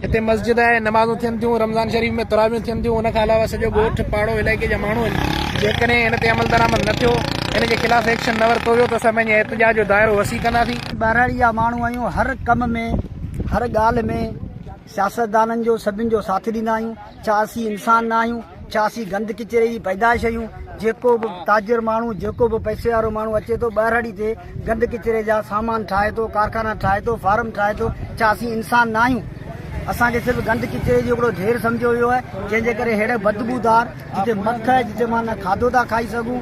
هتي مسجد آهي، نمازون ٿين ٿيون، رمضان شريف ۾ تراويحون ٿين ٿيون، ان کان علاوه سڄو ڳوٺ، پاڙو، علائقي جا ماڻهو هن جيڪڏهن هن تي عملدرآمد نه ٿيو، هن جي خلاف ايڪشن نه ورتو ويو ته اسان پنهنجي احتجاج جو دائرو وسيع ڪنداسين. ٻهراڙي جا ماڻهو آهيون، هر ڪم ۾ هر ڳالهه ۾ سياستدانن جو سڀن جو ساٿ ڏيندا آهيون. ڇا اسين انسان نه آهيون؟ ڇا اسين گند ڪچري جي پيدائش آهيون؟ جيڪو به تاجر ماڻهو، جيڪو به پئسي وارو ماڻهو اچي ٿو، ٻهراڙي تي گند ڪچري جا سامان ٺاهي ٿو، ڪارخانا ٺاهي ٿو، فارم ٺاهي ٿو، ڇا اسين انسان نه آهيون؟ اسان کي صرف گند ڪچري جو هڪڙو ڍير سمجهيو ويو آهي، جنهن جي ڪري ههڙي بدبودار جتي مک آهي، جتي مان نه کاڌو ٿا کائي سگهون،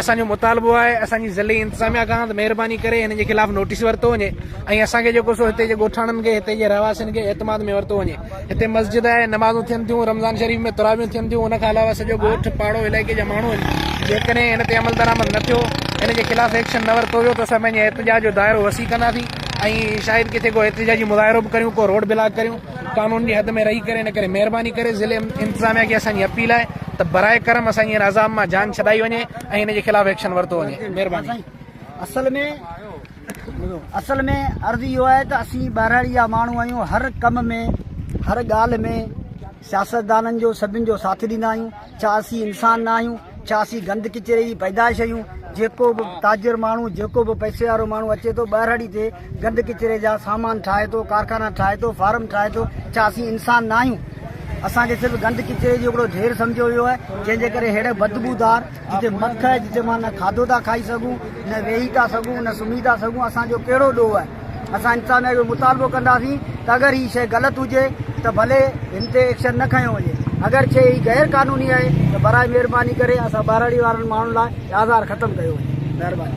اسان جو مطالبو آهي اسان جي ضلعي انتظاميا کان ته مهرباني ڪري هنن جي خلاف نوٽيس ورتو وڃي ۽ اسان کي جيڪو سو هتي جي ڳوٺاڻن کي هتي جي رهواسين کي اعتماد ۾ ورتو وڃي هتي مسجد آهي نمازون ٿين ٿيون رمضان شريف ۾ تراويون ٿين ٿيون ان کان علاوه سڄو ڳوٺ پاڙو علائقي جا ماڻهو آهن جيڪڏهن هن تي عمل درآمد نه ٿيو هن جي خلاف ايڪشن نه ورتو ويو ته اسان پنهنجي احتجاج جو دائرو وسيع ڪنداسين ۽ شايد ڪٿي ڪو احتجاجي مظاهرو به ڪريون ڪو روڊ بلاڪ ڪريون قانون جي حد ۾ رهي ڪري ان ڪري مهرباني ڪري ضلعي انتظاميا کي اسان جي اپيل آهي ته براء ڪرم اسان جي هن عذاب مان جان ڇڏائي وڃي ۽ هن جي خلاف ايڪشن ورتو وڃي مهرباني. اصل ۾ اصل ۾ عرض اهو آهي ته اسين ٻهراڙي جا ماڻهو آهيون هر ڪم ۾ هر ڳالهه ۾ سياستدانن جو سڀن جو ساٿ ڏيندا آهيون ڇا اسين انسان نه آهيون؟ ڇا اسين گند ڪچري جي پيدائش آهيون؟ جيڪو به تاجر ماڻهو، جيڪو به پئسي وارو ماڻهو اچي ٿو، ٻهراڙي تي گند ڪچري جا سامان ٺاهي ٿو، ڪارخانا ٺاهي ٿو، فارم ٺاهي ٿو، ڇا اسين انسان نه آهيون؟ اسان کي صرف گند ڪچري جو هڪڙو ڍير سمجهيو ويو آهي، جنهن جي ڪري ههڙي بدبودار جتي مک آهي، جتي مان نه کاڌو ٿا کائي سگهون، نه ويهي ٿا سگهون، نه سمهي ٿا سگهون، اسان جو ڪهڙو ڏوهه آهي؟ اسان انتظاميا کي مطالبو ڪنداسين ته اگر هي شيء غلط هجي ته ڀلي هن تي ايڪشن نه کنيو وڃي اگر شيء هي غير قانوني آهي ته براء مهرباني ڪري اسان ٻهراڙي وارن ماڻهن لاء آزار ختم ڪيو وڃي مهرباني